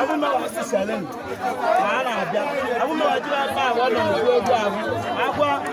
abụmọdụ abụọ na-abịa abụmọdụ abụọ na-abịa abụọ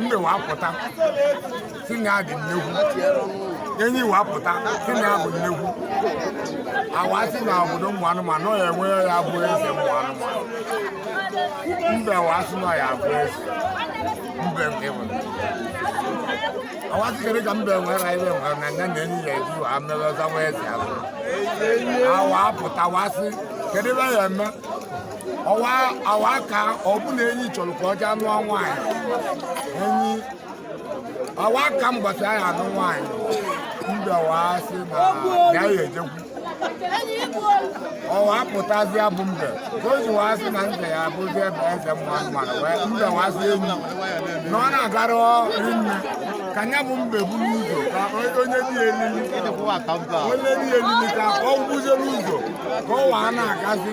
mbe wa pụta si na ya dị nnekwu enyi wa pụta si na ya bụ nnekwu awa si na obodo ụmụ anụmanụ ọ ya enwe ya bụ eze ụmụ anụmanụ mbe wa si na ya bụ eze mbe nke bụ awa si kedu ka mbe nwere ibe nwere na ya na enyi ya eji wa mere ọ zọwa eze azọ awa pụta wa si kedu ebe ya eme ọwa awa ka ọ bụ na enyi chọrọ ka ọ jee anụ nwaanyị enyi ọwa ka mgbasa ya anụ nwaanyị mbe ọwa sị na ya ya ejekwu ọwa pụtazịa bụ mbe ka o ji wee sị na nze ya abụzi ebe eze mma mmadụ wee mbe wee sị enyi na ọ na-agara rinne ka nya bụ mbe buru ụzọ ka onye dị elili onye dị elili ka ọ gwụzie n'ụzọ ka ọ waa na-agazi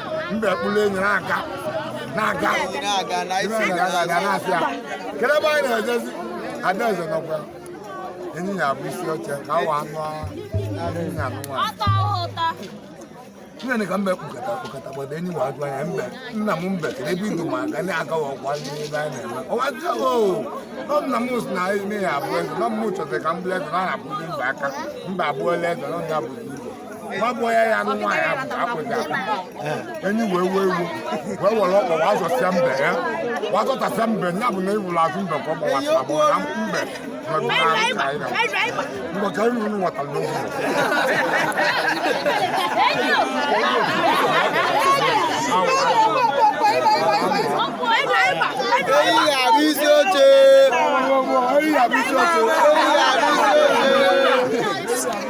mbe kpụrụ enyi na-aga na-aga na-asị ya kedu ebe anyị na-ejezi adaeze nọkwa enyi ya-abụ isi oche ka awa anụ enyi ya anụ nwaanyị nne ka mbe kpụkọta kpụkọta gbado enyi wa ajụ anya mbe nna m mbe kedu ebe i du m aga na-agawa ọkwa ndị ebe anyị na-eme ọwa jụọ o nna m si na ime ya abụọ eze nọ m chọtara ka m bụrụ eze na na-abụzi mba aka mba abụọla eze nọ ya bụzi igbo gbagbuo ya ya anụ nwaanyị akwụghị akwụ enyi wee wee iwe wee were ọkpa wa zọsịa mbe ya wa zọtasịa mbe ya bụ na ị hụrụ azụ mbe ka ọ gbawasịra bụ na mbe mgbe ka ịnụ ụnụ nwetara n'oge Enyi ga-abụ isi oche. Enyi ga-abụ isi oche.